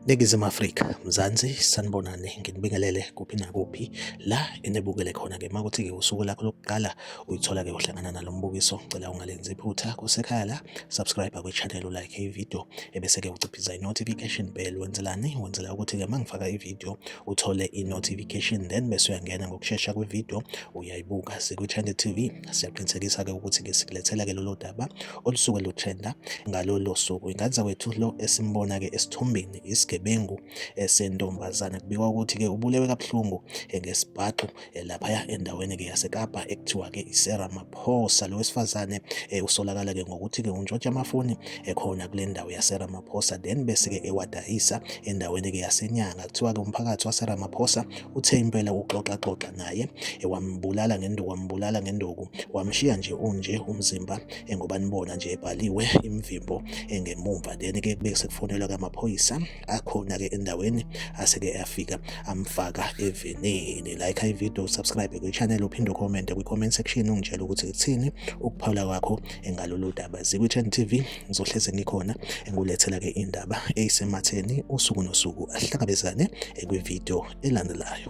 Ningizima Afrika, Mzansi, sanibonani, nginibingelele kuphi nakuphi la enibukele khona ke makuthi ke usuku lakho lokuqala uyithola ke uhlangana nalo mbukiso, ngicela ungalenzi iphutha kusekhaya la, subscribe kwi channel u like i video ebese ke uciphiza i notification bell wenzelani? Wenzela ukuthi ke mangifaka i video uthole i-notification then bese uyangena ngokushesha kwividiyo uyayibuka sikwi-trend tv siyaqinisekisa-ke ukuthi-ke sikulethela-ke lolo daba olusuke lutrenda ngalolo suku inganza kwethu lo esimbona-ke esithombeni isigebengu eh, sentombazane kubikwa ukuthi-ke ubulewe kabuhlungu eh, ngesibhaxu eh, laphaya endaweni-ke yasekapa ekuthiwa-ke isera maphosa lo wesifazane eh, usolakala-ke ngokuthi-ke untshontsha amafoni ekhona kule ndawo yasera maphosa then bese-ke ewadayisa endaweni-ke yasenyanga kuthiwa-ke umphakathi wasera maphosa uthe impela uxoxaxoxa naye wambulala ngenduku wambulala ngenduku wamshiya nje unje umzimba ngoba nibona nje ebhaliwe imvimbo engemumva then-ke kube sekufonelwa-ke amaphoyisa akhona ke endaweni aseke afika amfaka evenini like i video subscribe kwi channel uphinde ucommente kwi comment section ungitshela ukuthi kuthini ukuphawula kwakho engalolu daba zikwichen tv ngizohleze ngikhona engulethela ke indaba eyisematheni usuku nosuku ahlangabezane kwi video elandelayo.